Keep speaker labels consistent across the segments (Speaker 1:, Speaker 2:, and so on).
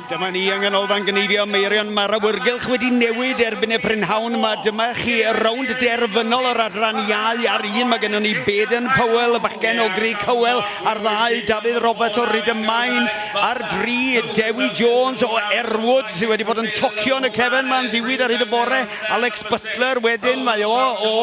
Speaker 1: Dyma ni yng Nghanolfan Gneifio Meirion. Mae'r awyrgylch wedi newid erbyn y prynhawn. Mae dyma chi rownd derfynol yr adran iau ar un. Mae gennym ni Baden Powell, y bachgen o Grug Cowell, ar ddau, Dafydd Roberts o Rydym Main, ar dri, Dewi Jones o Erwood, sydd wedi bod yn tocio yn y cefn ma'n ddiwyd ar hyd y bore, Alex Butler wedyn, mae o o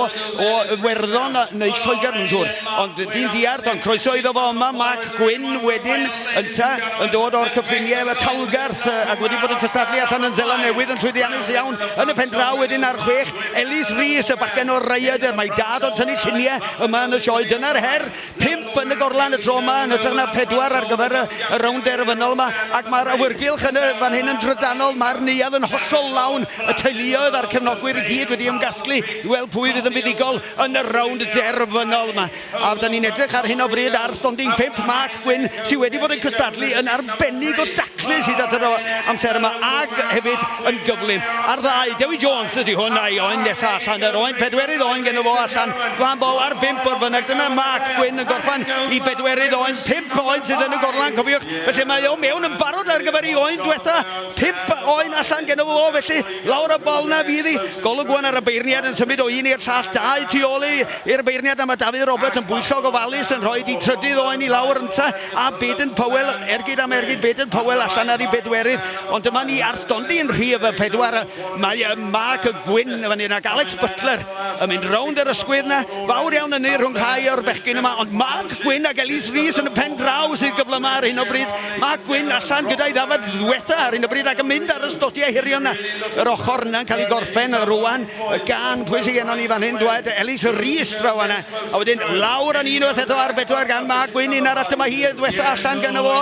Speaker 1: o Iwerddon neu Lloegr yn siŵr, ond dyn diarth, ond croeso iddo fo yma, Mark Gwynn wedyn ynta, yn dod o'r cyffiniau efo Talgarth ac wedi bod yn cystadlu allan yn Seland Newydd yn llwyddiannus iawn yn y pen draw wedyn ar chwech, Ellis Rees y bachgen o'r Rhaeadr, mae dad o'n tynnu lluniau yma yn y sioe, dyna'r her Pump yn y gorlan y tro yma, yn hytrach na phedwar ar gyfer y, y rownd derfynol yma, ac mae'r awyrgylch yn y fan hyn yn drydanol, mae'r neuadd yn hollol lawn, y teuluoedd a'r cefnogwyr i gyd wedi ymgasglu i weld pwy fydd yn fuddugol yn y rownd derfynol yma. A fydda ni'n edrych ar hyn o bryd ar stondin pump, Mark Gwynne, sydd wedi bod yn cystadlu yn arbennig o dacl Clust hyd at yr amser yma ac hefyd yn gyflym ar ddau. Dewi Jones ydy hwn a'i oen nesaf allan. Yr oen pedwerydd oen gen fo allan. Glan bol ar bimp o'r fyneg. Dyna Mark Gwyn yn gorffan i bedwerydd oen. Pimp oen sydd yn y gorlan cofiwch. Felly mae o mewn yn barod ar gyfer ei oen dwetha. Pimp oen allan gen fo felly. Lawr y bol na fydd hi. Golwg wan ar y beirniad yn symud o un i'r llall. Dau tu ôl i'r beirniad a mae Dafydd Roberts yn bwyllog ofalus yn rhoi di trydydd oen i lawr ynta. A Baden Powell, ergyd am ergyd, Baden Powell allan ar ei bedwerydd, ond dyma ni ar stondin yn rhif pedwar, mae Mark Gwynne yn fan hyn ac Alex Butler yn mynd rownd yr ysgwydd 'na, fawr iawn hynny rhwng rhai o'r bechgyn yma, ond Mark Gwynne ac Elise Rees yn y pen draw sydd gyflymaf ar hyn o bryd, Mark Gwynne allan gyda'i ddafad ddwetha ar hyn o bryd ac yn mynd ar y stotiau hirion 'na, yr ochr yna'n cael ei gorffen rwan gan, pwy sy gennon ni fan hyn, dwed, Elise Rees draw fan'na. A wedyn lawr yn unwaith eto ar bedwar gan Mark Gwyn, un arall dyma hi, dwetha allan gyda fo,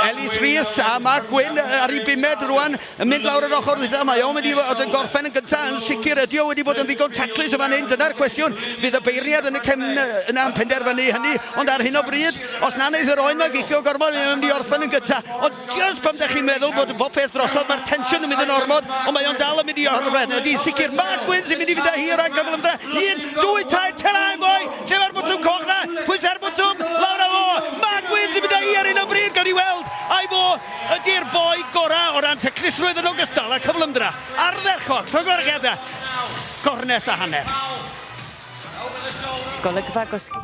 Speaker 1: Elis Rhys, a Mark Gwyn ar ei bumed rwan, yn mynd lawr yr ochr ddwytha, mae o'n mynd i fod yn gorffen yn gyntaf, yn sicr ydi o wedi bod yn ddigon taclus yn fan hyn, dyna'r cwestiwn, fydd y beirniad yn y cefn yna yn penderfynu hynny, ond ar hyn o bryd, os na wneith yr oen ma gicio gormod, mae o'n mynd i orffen yn gyntaf, ond Just pam dach chi'n meddwl bod bopeth drosodd, mae'r tensiwn yn mynd yn ormod, ond mae o'n dal yn mynd i orffen. Ydy, sicr, Marc Wills yn mynd i fynd â hi o ran cyfle ymdra. Un, dwy, tair, tela yn fwy! Lle mae'r botwm coch na? Pwysa'r botwm, lawr â fo! Marc Wills yn mynd â hi ar hyn o bryd, gawn ni weld ai fo ydy'r boi gorau o ran taclusrwydd yn ogystal â cyfle ymdra. Ardderchog, llongyfarchiadau! Gornest
Speaker 2: a hanner.
Speaker 1: Golygfa gosgi.